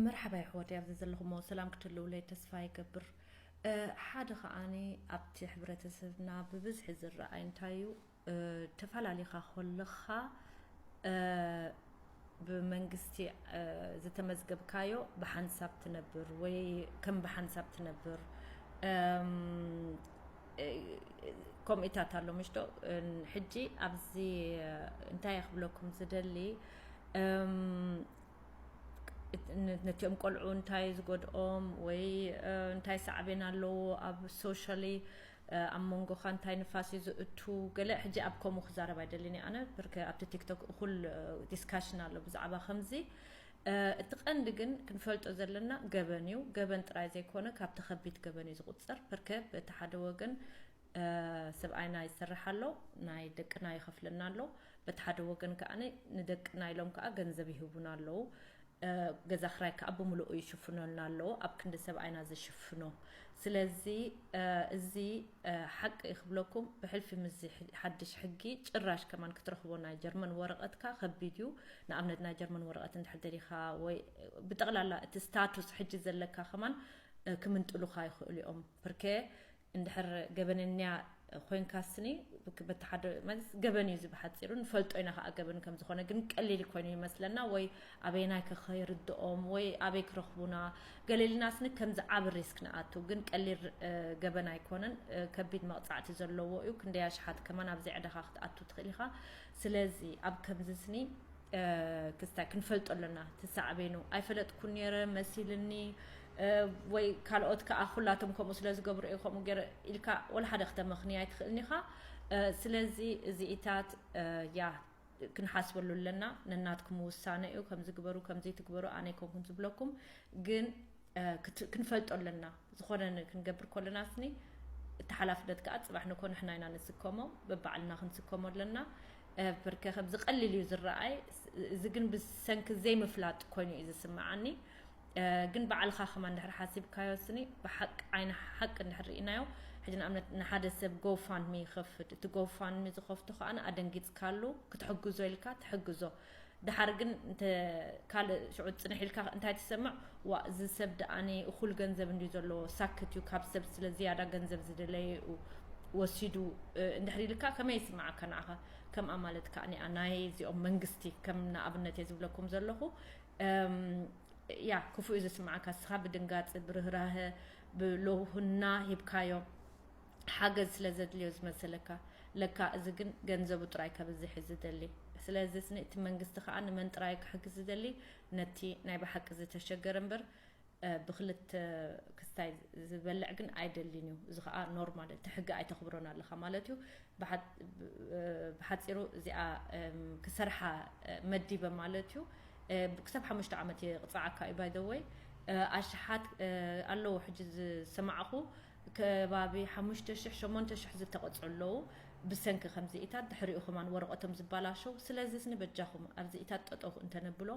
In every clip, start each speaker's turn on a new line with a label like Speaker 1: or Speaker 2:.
Speaker 1: መርሓባ የሕዋተይ ኣብዚ ዘለኹሞ ሰላም ክትህልውለይ ተስፋ ይገብር ሓደ ከዓኒ ኣብቲ ሕብረተሰብና ብብዝሒ ዝረኣይ እንታይ እዩ ተፈላለኻ ኮለኻ ብመንግስቲ ዝተመዝገብካዮ ብሓንሳብ ትነብር ወይ ከም ብሓንሳብ ትነብር ከምኡታት ኣሎ ምሽቶ ሕጂ ኣብዚ እንታይ ክብለኩም ዝደሊ ነቲኦም ቆልዑ እንታይ ዝጎድኦም ወይ እንታይ ሳዕቤን ኣለዎ ኣብ ሶሻሊ ኣብ መንጎኻ እንታይ ንፋስ እዩ ዝእቱ ገለ ሕጂ ኣብ ከምኡ ክዛረብ ኣይደልን እየ ኣነ ብርከ ኣብቲ ቲክቶክ እኹል ዲስካሽን ኣሎ ብዛዕባ ከምዚ እቲ ቀንዲ ግን ክንፈልጦ ዘለና ገበን እዩ ገበን ጥራይ ዘይኮነ ካብቲ ከቢድ ገበን እዩ ዝቁፅር ብርከ በቲ ሓደ ወገን ሰብኣይና ይሰርሕ ኣሎ ናይ ደቅና ይኸፍለና ኣሎ በቲ ሓደ ወገን ከኣ ንደቅና ኢሎም ከኣ ገንዘብ ይህቡና ኣለዉ ገዛ ክራይ ከኣ ብምልኡ ይሽፍኖልና ኣለዉ ኣብ ክንዲ ሰብኣይና ዝሽፍኖ ስለዚ እዚ ሓቂ እዩ ክብለኩም ብሕልፊ ምስዚ ሓድሽ ሕጊ ጭራሽ ከማን ክትረኽቦ ናይ ጀርመን ወረቐትካ ከቢድ እዩ ንኣብነት ናይ ጀርመን ወረቐት እንድሕር ደሊኻ ወይ ብጠቕላላ እቲ ስታቱስ ሕጂ ዘለካ ከማን ክምንጥሉኻ ይኽእሉ እዮም ብርከ እንድሕር ገበነኛ ኮይንካ ስኒ በቲ ሓደ ማለት ገበን እዩ እዚ ብሓፂሩ ንፈልጦ ኢና ከዓ ገበን ከም ዝኾነ ግን ቀሊል ኮይኑ ይመስለና ወይ ኣበየናይ ከኸይርድኦም ወይ ኣበይ ክረኽቡና ገሌልና ስኒ ከምዚ ዓብ ሪስክ ንኣቱ ግን ቀሊል ገበን ኣይኮነን ከቢድ መቕፃዕቲ ዘለዎ እዩ ክንደይ ኣሽሓት ከማን ኣብዚ ዕዳኻ ክትኣቱ ትኽእል ኢኻ ስለዚ ኣብ ከምዚ ስኒ ክስታይ ክንፈልጦ ኣለና እቲ ሳዕቤኑ። ኣይፈለጥኩን ነይረ መሲልኒ ወይ ካልኦት ከኣ ኩላቶም ከምኡ ስለ ዝገብሩ እየ ከምኡ ገይረ ኢልካ ወላ ሓደ ክተመኽንይ ኣይትኽእልን ኢኻ። ስለዚ እዚኢታት ያ ክንሓስበሉ ኣለና ነናትኩም ውሳነ እዩ ከምዚ ግበሩ ከምዚ ትግበሩ ኣነ ኣይኮንኩን ዝብለኩም ግን ክንፈልጦ ኣለና ዝኾነ ክንገብር ኮለና ስኒ እቲ ሓላፍነት ከዓ ፅባሕ ንኮ ንሕና ኢና ንስከሞ በባዕልና ክንስከሞ ኣለና ብርከ ከምዚ ቀሊል እዩ ዝረኣይ እዚ ግን ብሰንኪ ዘይምፍላጥ ኮይኑ እዩ ዝስምዓኒ ግን ባዕልኻ ከማ እንድሕር ሓሲብካዮ ስኒ ብሓቂ ዓይነ ሓቂ እንድሕር ርኢናዮ ሕጂ ንኣብነት ንሓደ ሰብ ጎፋንሚ ይኸፍት እቲ ጎፋንሚ ዝኸፍቶ ከዓ ኣደንጊፅካሉ ክትሕግዞ ኢልካ ትሕግዞ ደሓር ግን እንተ ካልእ ሽዑ ጽንሕ ኢልካ እንታይ ትሰምዕ ዋእ እዚ ሰብ ደኣኒ እኹል ገንዘብ እንድዩ ዘለዎ ሳክት እዩ ካብ ሰብ ስለ ዝያዳ ገንዘብ ዝደለየኡ ወሲዱ እንድሕሪ ኢልካ ከመይ ይስምዓካ ንዓኻ ከም ኣማልት ከኣ ናይ እዚኦም መንግስቲ ከም ንኣብነት እየ ዝብለኩም ዘለኹ ያ ክፉእ እዩ ዝስምዓካ ንስኻ ብድንጋጽ ብርህራሀ ብሎውህና ሂብካዮ ሓገዝ ስለ ዘድልዮ ዝመሰለካ ለካ እዚ ግን ገንዘቡ ጥራይ ከብዝሕ እዩ ዝደሊ ስለዝስ እቲ መንግስቲ ከኣ ንመን ጥራይ እዩ ክሕግዝ ዝደሊ ነቲ ናይ ብሓቂ ዝተሸገረ እምበር ብክልተ ክስታይ ዝበልዕ ግን ኣይደልን እዩ እዚ ከዓ ኖርማል እቲ ሕጊ ኣይተኽብሮን ኣለኻ ማለት እዩ ብሓፂሩ እዚኣ ክሰርሓ መዲበ ማለት እዩ ክሳብ ሓሙሽተ ዓመት ይቕፅዓካ እዩ ባይደወይ ኣሽሓት ኣለዎ ሕጂ ዝሰማዕኹ ከባቢ ሓሙሽተ ሽሕ ሸሞንተ ሽሕ ዝተቐጽዑ ኣለው ብሰንኪ ከምዚኢታት ድሕሪኡ ከማን ወረቐቶም ዝባላሸው ስለዚስኒ በጃኹም ኣብዚኢታት ጠጠው እንተነብሎ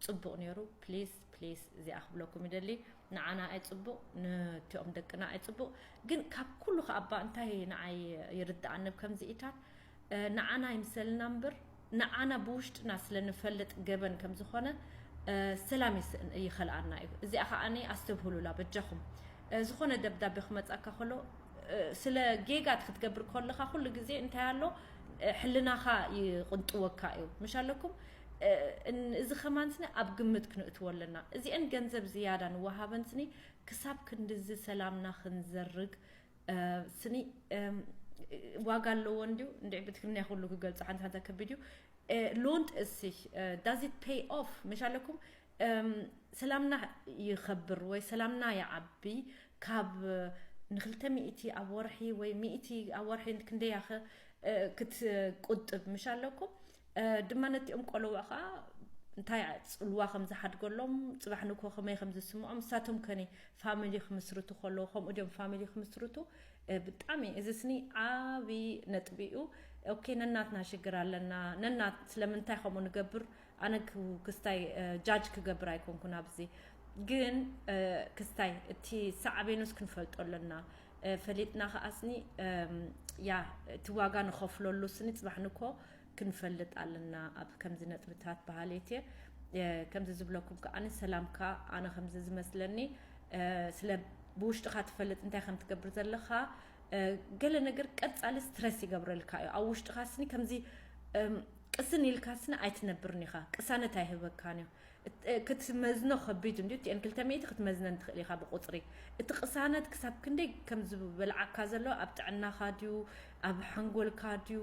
Speaker 1: ጽቡቕ ኔሩ ፕሊስ ፕሊስ እዚኣ ክብለኩም ይደሊ ንዓና ኣይጽቡቕ ንቲኦም ደቅና ኣይጽቡቕ ግን ካብ ኩሉ ከኣባ እንታይ ንዓይ ይርድኣኒ ብከምዚኢታት ንዓና ኣይምሰልና እምብር ንዓና ብውሽጥና ስለ ንፈልጥ ገበን ከም ዝኾነ ሰላም ይስእን ይኸልኣና እዩ እዚኣ ከኣ ኣስተብህሉላ በጃኹም ዝኾነ ደብዳቤ ክመጻካ ከሎ ስለ ጌጋት ክትገብር ኮለኻ ኩሉ ግዜ እንታይ ኣሎ ሕልናኻ ይቕንጥወካ እዩ ምሽ ኣለኩም እዚ ከማን ስኒ ኣብ ግምት ክንእትዎ ኣለና እዚኤን ገንዘብ ዝያዳ ንወሃበን ስኒ ክሳብ ክንድዚ ሰላምና ክንዘርግ ስኒ ዋጋ ኣለዎ እንዲሁ እንዲዕ ብትግርኛ ኩሉ ክገልጾ ሓንቲ ሓንቲ ከቢድ እዩ ሎንት እሲህ ዳዚት ፔይ ኦፍ መሽ ኣለኩም ሰላምና ይኸብር ወይ ሰላምና ይዓቢ ካብ ንክልተ ሚእቲ ኣብ ወርሒ ወይ ሚእቲ ኣብ ወርሒ ክንደይ ያኸ ክትቁጥብ መሽ ኣለኩም ድማ ነቲኦም ቆለውዕ ከኣ እንታይ ጽልዋ ከም ዝሓድገሎም ጽባሕ ንግሆ ከመይ ከም ዝስምዖም ንሳቶም ከኒ ፋሚሊ ክምስርቱ ከለዉ ከምኡ ድዮም ፋሚሊ ክምስርቱ ብጣዕሚ እዚ ስኒ ዓብዪ ነጥቢ እዩ ኦኬ ነናትና ሽግር ኣለና ነና ስለምንታይ ከምኡ ንገብር ኣነ ክስታይ ጃጅ ክገብር ኣይኮንኩን ኣብዚ ግን ክስታይ እቲ ሳዕቤኑስ ክንፈልጦ ኣለና ፈሊጥና ከኣ ስኒ ያ እቲ ዋጋ ንኸፍለሉ ስኒ ጽባሕ ንግሆ ክንፈልጥ ኣለና ኣብ ከምዚ ነጥብታት በሃሊት እየ ከምዚ ዝብለኩም ከኣ ሰላምካ ኣነ ከምዚ ዝመስለኒ ስለ ብውሽጥኻ ትፈልጥ እንታይ ከም ትገብር ዘለኻ ገለ ነገር ቀጻሊ ስትረስ ይገብረልካ እዩ ኣብ ውሽጥኻ ስኒ ከምዚ ቅስን ኢልካ ስኒ ኣይትነብርን ኢኻ ቅሳነት ኣይህበካን እዩ ክትመዝኖ ከቢድ እንድዩ እቲኤን ክልተ ሚእቲ ክትመዝነን ትኽእል ኢኻ ብቁጽሪ እቲ ቅሳነት ክሳብ ክንደይ ከም ዝበልዓካ ዘሎ ኣብ ጥዕናኻ ድዩ ኣብ ሓንጎልካ ድዩ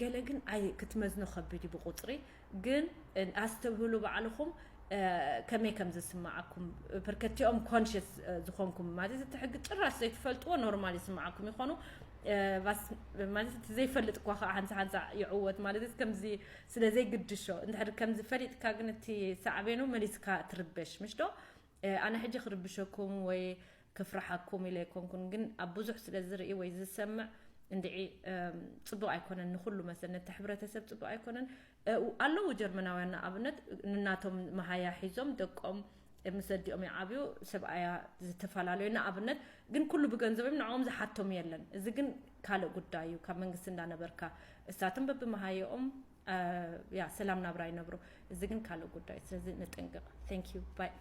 Speaker 1: ገለ ግን ኣይ ክትመዝኖ ከቢድ እዩ ብቁጽሪ ግን ኣስተብህሉ ባዕልኹም ከመይ ከም ዝስምዓኩም ፐርከቲኦም ኮንሽስ ዝኾንኩም ማለት እቲ ሕጊ ጭራሽ ዘይትፈልጥዎ ኖርማል ይስምዓኩም ይኾኑ ማለት እቲ ዘይፈልጥ እኳ ከዓ ሓንሳ ሓንሳ ይዕወት ማለት ከምዚ ስለ ዘይግድሾ እንድሕር ከምዚ ፈሊጥካ ግን እቲ ሳዕቤኑ መሊስካ ትርበሽ ምሽ ዶ ኣነ ሕጂ ክርብሸኩም ወይ ክፍርሓኩም ኢለ ኣይኮንኩን ግን ኣብ ብዙሕ ስለ ዝርኢ ወይ ዝሰምዕ እንድዒ ጽቡቅ ኣይኮነን ንኩሉ መሰል ነቲ ሕብረተሰብ ጽቡቅ ኣይኮነን ኣለዉ ጀርመናውያን ንኣብነት ንናቶም መሃያ ሒዞም ደቆም ምስ ኣዲኦም ይዓብዩ ሰብኣያ ዝተፋላለዩ ንኣብነት ግን ኩሉ ብገንዘብ እዮም ንዕኦም ዝሓቶም የለን እዚ ግን ካልእ ጉዳይ እዩ ካብ መንግስቲ እንዳነበርካ እሳቶም በብመሃየኦም ያ ሰላም ናብራ ይነብሩ እዚ ግን ካልእ ጉዳይ ስለዚ ንጥንቅቅ thank you bye